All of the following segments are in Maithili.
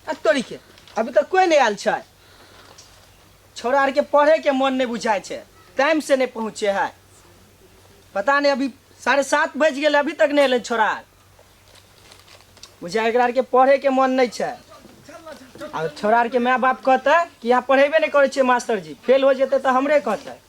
आ तोरी के अभी तक कोई नहीं आयल छै छोरा आर के पढ़े के मन नहीं बुझाय छै टाइम से नहीं पहुँचे है पता नहीं अभी साढ़े सात बज गए अभी तक नहीं अल छोरा आर बुझाय एकरा आर के पढ़े के मन नहीं छै आ छोरा आर के माय बाप कहते कि यहाँ पढ़ेबे नहीं करे छे मास्टर जी फेल हो जेते तो हमरे कहते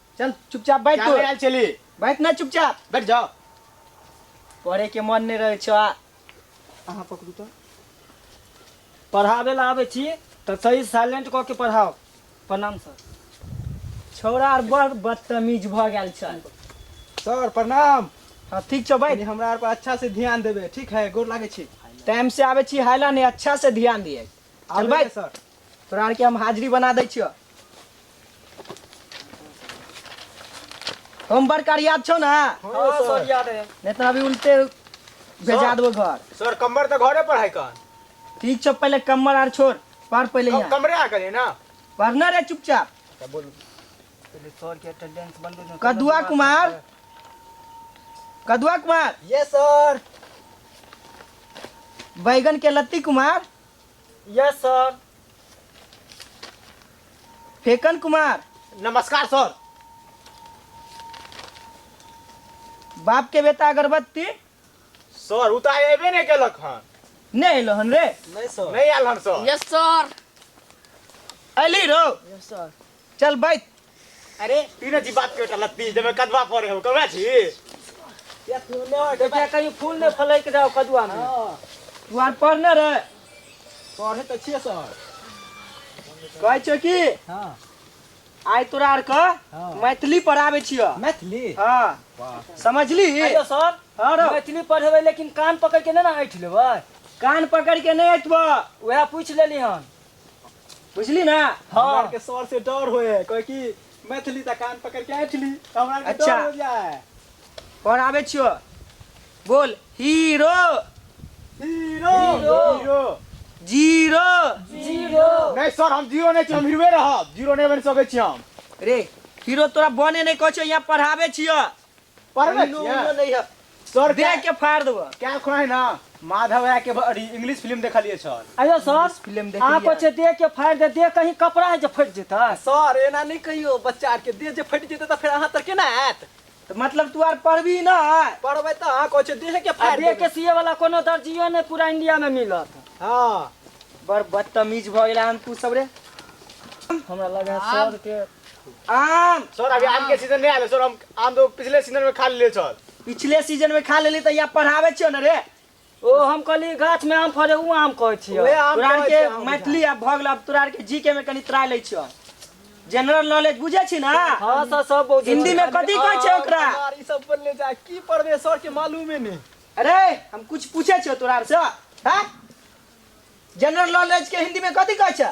चल चुपचाप बैठ तू आयल चली बैठ ना चुपचाप बैठ जाओ पढ़े के मन नहीं रहे छो अहाँ पकड़ू तो पढ़ावे ला आवे छी तो सही साइलेंट कऽ के पढ़ाओ प्रणाम सर छौड़ा आर बड़ बदतमीज भ गेल छ सर प्रणाम हाँ ठीक छो बैठ हमरा आर पर अच्छा से ध्यान देबे ठीक है गोर लागे छी टाइम से आवे छी हाइला नहीं अच्छा से ध्यान दिए चल बैठ सर तोरा आरके हम हाजिरी बना दै छियौ हम बड़ करियाब छौ ने हाँ सर याद है नहि तऽ अभी उल्टे भेजा देबो घर सर कम्बर तऽ घरे पर है कन ठीक छौ पहिले कम्मर आर छोड़ पढ़ पहिले कम- यहाँ कमरे आ गेलै ना पढ़ना रे चुपचाप तऽ बोलू पहिले सर के अटेंडेंस बंद हो कदुआ कुमार कदुआ कुमार ये सर बैगन के लत्ती कुमार यस सर फेकन कुमार नमस्कार सर बाप के बेटा अगरबत्ती सर उ तऽ एबे नहि केलक हन नहीं एलो हन रे नहीं सर नहीं आयल हन सर यस सर अली रो यस सर चल बैठ अरे तीन जी बात के टलत ती जब कदवा पड़े हो कबरा छी या फूल ने हो देखिया कहीं फूल ने फलैक जाओ कदुआ में तू आर पढ़ने रे पढ़े तो छिए सर कहै छौ कि हां आइ तोरा आर के हाँ। मैथिली पढ़ाबै छियो मैथिली हाँ वाह समझली आइयो सर हाँ रो मैथिली पढ़ेबै लेकिन कान पकड़ के नहि ने ऐठ लेबै कान पकड़ के नहि अटबऽ उएह पूछ लेली हन बुझली ना हमरा के सर से डर होए कहे कि मैथिली त कान पकड़ के ऐठली त हमरा के अच्छा। डर हो जाए कौन आवे छियो बोल hero hero hero. Hero zero zero नहीं सर हम जीरो नहीं छी हम हीरोए रहब जीरो नहीं बन सके छी हम रे हीरो तोरा बने नहीं कह छियो यहाँ पढ़ावे छियो पढ़ ले उनो उनो नहीं है सर दे के फाड़ देबो क्या खुना है ना माधव राय के बड़ी इंग्लिश फिल्म देखलिए छल आयो सर फिल्म देख आप अच्छे दे के फाड़ दे दे कहीं कपड़ा है जो फट जेता सर एना नहीं कहियो बच्चा के दे जे फट जेते त फिर अहां तर केना आत तो मतलब तू आर पढ़बी ना पढ़बे त अहां कोचे दे के फाड़ दे के सीए वाला कोनो दर्जियो ने पूरा इंडिया में मिलत हां बड़ बदतमीज भ गेला हम तू सब रे हमरा लगा सर के आम सर अभी आम के सीजन नहीं आले सर हम आम तो पिछले सीजन में खा लिए सर पिछले सीजन में खा लेली त यहाँ पढ़ावे छियो न रे ओ हम कहली गाछ में आम फरे उ आम कहै छियै ओहे आम तोरा आर कहै के छियै हम मैथिली आब भऽ गेल आब तोरा आर के जी के में कनी त्राय लै छियो जनरल नॉलेज बुझे छी ना हाँ सर सब बहुत हिंदी में कथी कहै छै ओकरा यार ई सब बोलले जा की पढ़बे सर के मालूमे नहीं अरे हम कुछ पूछे छियो तोरा आर से हैं जनरल नॉलेज के हिंदी में कथी कहै छै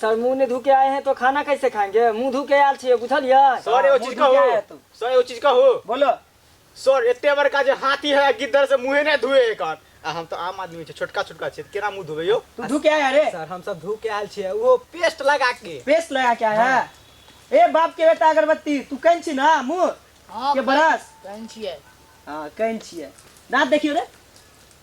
सर मुंह नहीं धो के आए हैं तो खाना कैसे खाएंगे मुंह धो के आयल छिए बुझलिए सर एगो चीज कहू सर एगो चीज कहू बोलो सर एते बड़का जे हाथी है गिद्दर से मुंहे नहीं धुए एकर आ हम तो आम आदमी छे छोटका छोटका छे केना मुंह धुबे यो तू धो के आए अरे सर हम सब धो के आयल छिए वो पेस्ट लगा के पेस्ट लगा के आए है ए बाप के बेटा अगरबत्ती तू कहीं छी ना मुंह के बरस कहीं छिए हां कहीं छिए दांत देखियो रे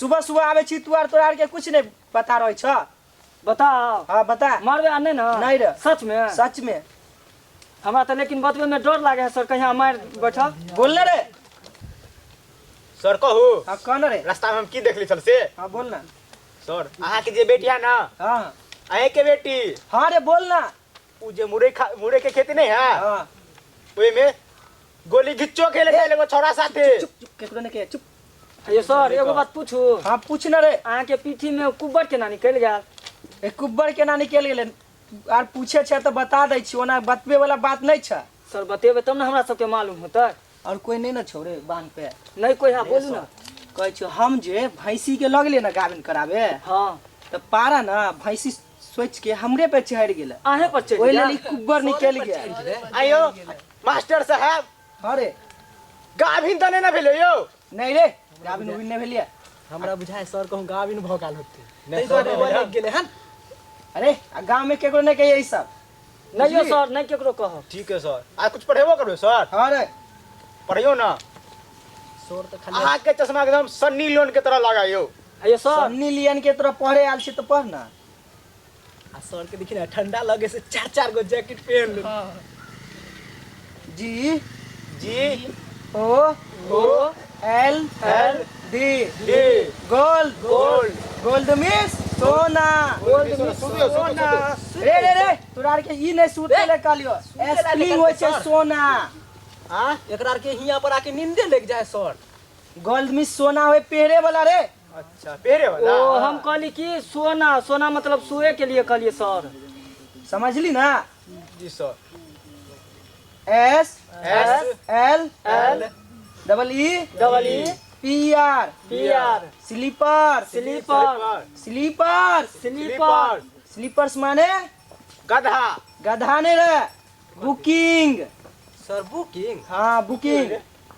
सुबह सुबह आवे छी तू आर तोरा आर के कुछ नहीं पता रहे छ बताओ हाँ बता मारबे आ नहीं ना नहीं रे। सच में सच में हमरा तो लेकिन बतबे में डर लागे है सर कहीं हम मार बैठा बोल ना रे सर कहू हाँ कौन रे रास्ता में हम की देखली छल से हाँ बोल ना सर अहाँ के जे बेटी है ना हाँ अहे के बेटी हाँ रे बोल ना उ जे मुरे खा मुरे के खेती नहीं है हां ओए में गोली गिच्चो खेले खेले को छोरा साथे चुप चुप केकरो ने के चुप ये सर एगो बात पूछू हां पूछ ना रे अहाँ के पीठी में कुब्बर केना निकल गया ए कुब्बर केना निकल गेले आर पूछे छे तो बता दै छी ओना बतबे वाला बात नहीं छे सर बतेबे तब ना हमरा सबके मालूम होतै और कोई नहीं ना छोड़े बांध पे नहीं कोई है बोलू ना कहे छो हम जे भैंसी के लगले ना गाभिन करावे हां तो पारा ना भैंसी सोच के हमरे पे चढ़ गेल आहे पर चढ़ ओहि लेल ई कुब्बर निकल गेल आयो मास्टर साहब हाँ रे गाभिन तने ना भेलो यो नहीं रे गाभिन उभिन नहीं भेलिया हमरा बुझाए सर कहूँ गाभिन भऽ गेल होते ताहि दुआरे ओ लागि गेलै हन अरे आ गाँव में केकरो नहीं कहिए ई सब नहीं यो सर नहीं केकरो कहो ठीक है सर आज कुछ पढ़ेबो करबे सर हाँ रे पढ़ियो ना सर तो खाली अहाँ के चश्मा एकदम सन्नी लोन के तरह लगा यो आइयो सर सन्नी लियन के तरह पढ़े आयल छी तो पढ़ ना आ सर के देखी ना ठंडा लगे से चार चार गो जैकेट पहन लो G G O O L L D D gold gold gold miss Sona gold miss Sona रे रे रे तोरा आर के ई नहीं सूते ले कहलियो एसली होय छै सोना हां एकरा आर के हिया पर आके नींदे लग जाए सर गोल्ड मिस सोना होय पेहरे वाला रे अच्छा पेहरे वाला ओ हम कहली कि सोना सोना मतलब सोए के लिए कहलिए सर समझली ना जी sir S S L L double E double E P R P R sleeper sleeper sleeper sleeper sleeper माने गधा गधा ने रे बुकिंग सर बुकिंग हाँ बुकिंग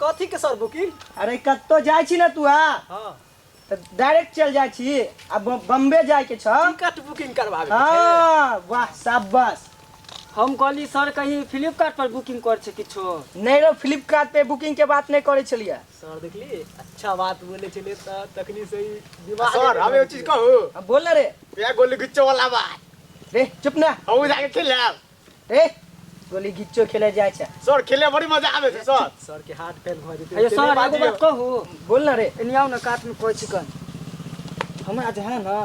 कथी के सर बुकिंग अरे कत्तो जाय छी ना तू आ हाँ तऽ डायरेक्ट चल जाइ छी आ ब- बम्बे जाय के छ टिकट बुकिंग करवावे के छै। हाँ वाह शाबाश हम कहली सर कहीं फ्लिपकार्ट पर बुकिंग कर छै किछो नहीं रो फ्लिपकार्ट पे बुकिंग के बात नहीं करे छलिए सर देखली अच्छा बात बोले छले त तखनी से ही दिमाग सर हम एगो चीज कहू हाँ, बोल ना रे वएह गोली गुच्चो वाला बात रे चुप ना हम जाके खेलब ए गोली गिच्चो खेले जाय छै सर खेले बड़ी मजा आवे छै सर सर के हाथ फेल भ जेते अयो सर एगो बात कहू बोल ना रे एनियाओ ना काट में कोइ चिकन हमरा जे है ना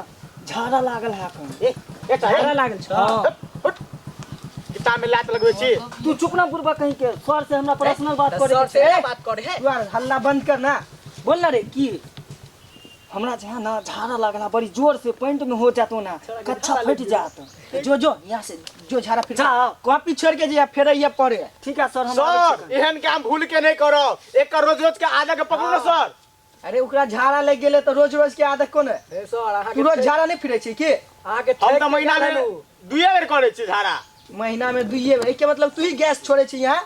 झाड़ा लागल है कन ए ए झाड़ा लागल छ हाँ। किताब में लात लगवे छी तू चुप ना बुरबा कहीं के सर से हमरा पर्सनल बात करे सर से बात करे है तू हल्ला बंद कर ना बोल ना रे की हमरा जे है ना झाड़ा लागला बड़ी जोर से पैंट में हो जातो ना कच्छा फट जात जो जो यहाँ से जो झाड़ा फिर कॉपी छोड़ के जे फेर ये पड़े ठीक है सर हम सर एहन काम भूल के नहीं करो एक रोज रोज के आधा के पकड़ो ना सर अरे ओकरा झाड़ा लग गेले तो रोज रोज के आदत कोन है ए सर अहाँ तू रोज झाड़ा नहीं फिरे छी के अहाँ के हम तो महीना में दुए बेर करे छी झाड़ा महीना में दुइये बेर के मतलब तू ही गैस छोड़े छी यहाँ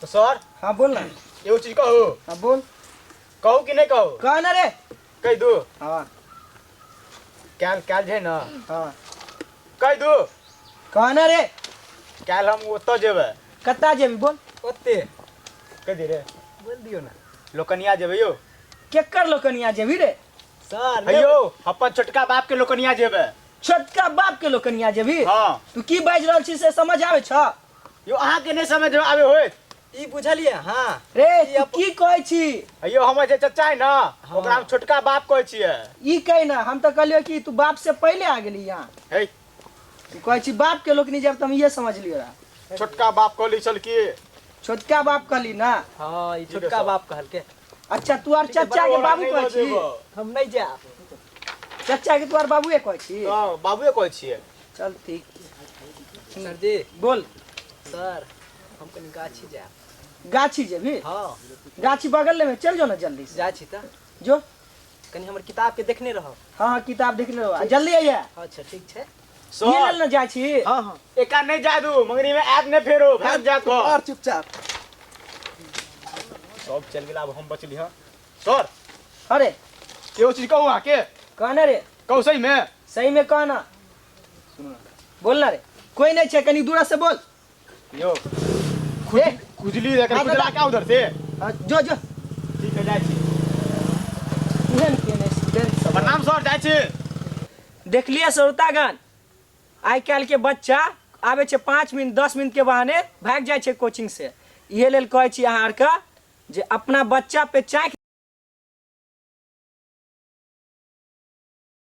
तो सर हाँ बोल ना एगो चीज कहू हाँ बोल कहू कि नहीं कहू कह ना रे कह दू हाँ कैल कैल जे ना हाँ कह दू कह ना रे कैल हम ओतऽ जेबै कत्ता जेबी बोल ओते कह दे रे बोल दियो ना लोकनिया जेबै यौ केकर लोकनिया जेबी रे सर हे यौ अपन छोटका बाप के लोकनिया जेबै छोटका बाप के लोकनिया जेबी हाँ तू की बाजि रहल छी से समझ आबै छ यो अहाँ के नहीं समझ में आवे होय ई बुझलिए हां रे ई तू अप- की कहै छी अयो हमर जे चचा है ना ओकरा हम छोटका बाप कहै छियै ई कह ना हम तो कहलियो कि तू बाप से पहले आ गेली यहाँ हे तू कहै छी बाप के लोग नहीं जब तुम ये समझ लियो रहा छोटका बाप कहली छल की छोटका बाप कहली ना हां ई छोटका छोटका बाप कहलके अच्छा तू आर चचा के बाबू कहै छी हम नहीं जा चचा के तू आर बाबूए कहै छी बाबूए कहै छियै चल ठीक सर जी बोल सर हम कनी गाछी जायब गाछी जेबी हँ गाछी बगल में चल जाओ ना जल्दी से जाइ छी तऽ जो कनी हमर किताबके देखने रहब हाँ हाँ किताब देखने रहो आ, जल्दी आइए अच्छा ठीक छै ये लेल ना जाइ छी हँ हँ एका नहीं जा दू मंगनी में ऐप नहीं फेरो भाग जा तो और चुपचाप सब चल गेला अब हम बचली हँ सर हाँ रे ये वो चीज कहू अहाँ के कहना रे कहू सही में सही में कहना बोलना रे कोई नहीं छे कनी दूरा से बोल यो ए, खुजली रे हाँ, खुजला दादा। क्या उधर से हाँ, जो जो ठीक है जाय छी इहन के नहीं स्टूडेंट सब प्रणाम सर जाय छी देखलिए श्रोतागण आइ काल्हि के बच्चा आबै छै पाँच मिनट दस मिनट के बहाने भागि जाइ छै कोचिंग से इहे लेल कहै छी अहाँ आरके जे अपना बच्चा पे चाँकि